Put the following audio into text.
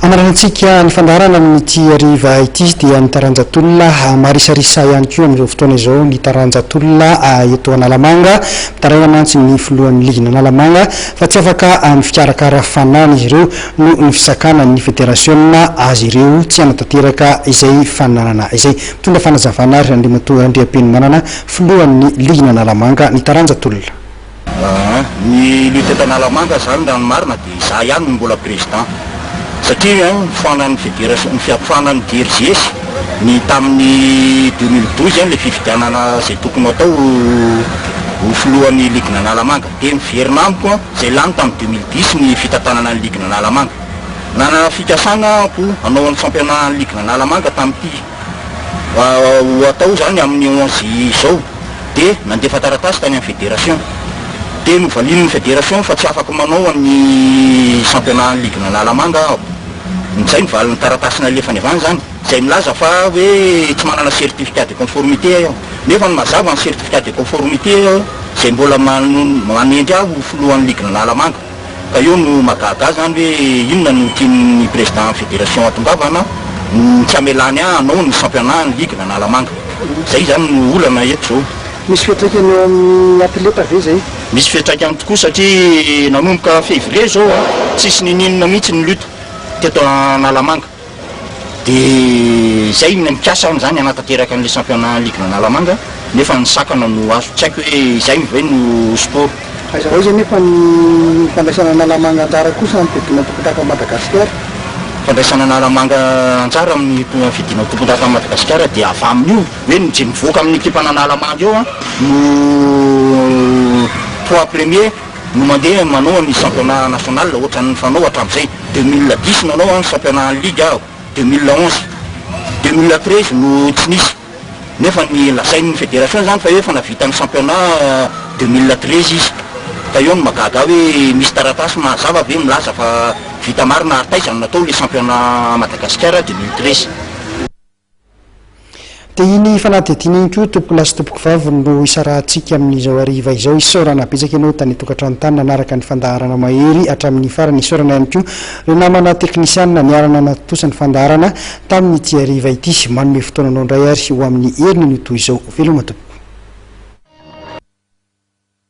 Hamaranantsika ny fandaharana amin'ity hariva ity dia ny taranja tolona. Marisarisa ihany koa amin'izao fotoana izao ny taranja tolona eto Analamanga. Mitaraina mantsy ny filohan'ny ligin'Analamanga fa tsy afaka amin'ny fikarakara fanana izy ireo noho ny fisakana ny federasiona azy ireo tsy hanatanteraka izay fananana izay. Mitondra fanazavana ary Andriamatoa Andriapenimanana, filohan'ny ligin'Analamanga ny taranja tolona. Aa ny lutte eto Analamanga zany raha ny marina dia izaho ihany no mbola président satria ny foanan'ny fédération ny foanan'ny DRJS ny tamin'ny deux mille douze ilay fifidianana izay tokony hatao ho ho filohan'ny ligue n'Analamanga dia niverina amiko izay lany tamin'ny deux mille dix ny fitantanana ny ligue n'Analamanga nanana fikasana aho hanao ny fampianahan'ny ligue n'Analamanga tamin'ity ho atao izany amin'ny onze izao dia nandefa taratasy tany amin'ny federasiona dia novalian'ny federasiona fa tsy afaka manao an'ny championnat ligue Analamanga aho, izay ny valin'ny taratasy nalefany avy any izany izay milaza fa hoe tsy manana certificat de conformité aho nefa ny mazava ny certificat de conformité izay mbola manendry ahy ho filohan'ny ligue Analamanga. Ka eo no mahagaga zany hoe inona no tian'ny président fédération atongavana no tsy amelany ah anao ny championnat ny ligue n'Analamanga. Zay zany no olana eto zao. Misy fiatraikany eo amin'ny atleta ve zay? Misy fiatraikany tokoa satria nanomboka février zao ah tsisy nininona mihitsy ny lutte teto Analamanga. Dia izay ilay mikasa aho izany hanatanteraka an'ilay championnat ligue an'Analamanga nefa ny sakana no azo, tsy haiko hoe izay ve no sport. Hazavao izay nefa ny fandraisana Analamanga anjara kosa amin'ny fiadiana ny tompondaka ao Madagasikara. Fandraisana Analamanga anjara amin'ny fiadiana ny tompondaka ao Madagasikara dia avy amin'io hoe ny izay mivoaka amin'ny ekipan'Analamanga eo no poids premier. no mandeha manao ny championnat national ohatran'ny fanao hatramin'izay, deux mille dix nanao aho ny championnat en ligue aho, deux mille onze, deux mille treize no tsy nisy nefa ny lazain'ny federation izany fa efa navita ny championnat deux mille treize izy ka eo no mahagaga ahy hoe misy taratasy mahazava ve milaza fa vita marina ary taiza no natao ilay championnat Madagasikara deux mille treize? Dia iny fanadihadiana iny koa tompon'lahy sy tompokovavy no hisarahantsika amin'izao hariva izao. Isaorana betsaka ianao tany an-tokantrano tany nanaraka ny fandaharana mahery hatramin'ny farany. Isaorana ihany koa ireo namana teknisianina niara-nanatontosa ny fandaharana tamin'ity hariva ity. Manome fotoananao indray ary ho amin'ny heriny no toy izao. Veloma tompoko.